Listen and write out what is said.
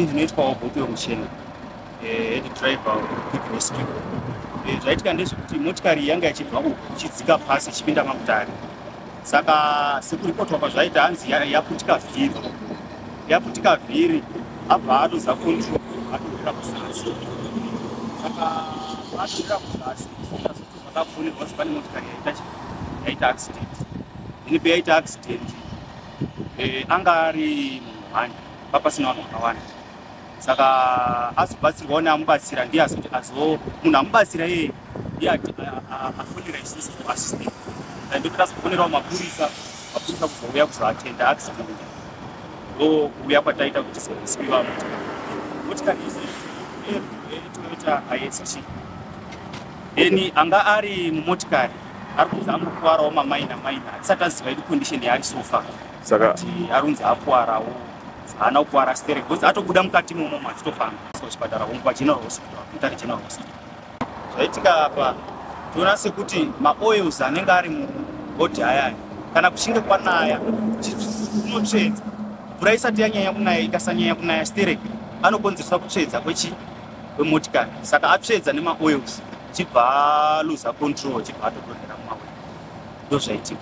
ndinoitwawo bhutu yokuchena eh, head driver quick rescue eh, zvaitika ndezvekuti motikari yanga ichibva uku ichidzika pasi ichipinda makutari saka sekuripotwa kwazvaita hanzi yaputika vhiri yakuti kavhiri abva aluza control atowira kuzasi saka atowira kuzasi zvakapfunika kuti pane motikari yaita chi yaita accident ini peyaita accident eh, anga ari munhu hwani papasina vanhu vakawanda saka azobatsirwawo neamubatsira ndiye azoti azo munhu amubatsira iye ndiye afonera isusu kuassistant ndokuti azofonerawo mapurisa mapurisa kuzouya kuzoatenda accident ndo kuuya kwataita kuti sosiwiwa motikari motikari izi etoyota ist then anga ari mumotikari ari kunzi angokuvarawo mamaina maina atisati aziva idi condition yaari sofa saka arunzi akuwarawo haana kukwara stere because atobuda mukati momo machitofamba kuchipatara umu pageneral hospital mutare general hospital zvaitika apa toona sekuti maoils anenge ari mubodhi ayaya kana kuchinge kwanaya unotsvedza mvura isati yanyanya kunaya ikasanyanya kunaya stere anokonzeresa kutsvedza kwechi kwemotikari saka atsvedza nemaoils chibva aluza control chibva atodonhera mumaoil ndozvaitika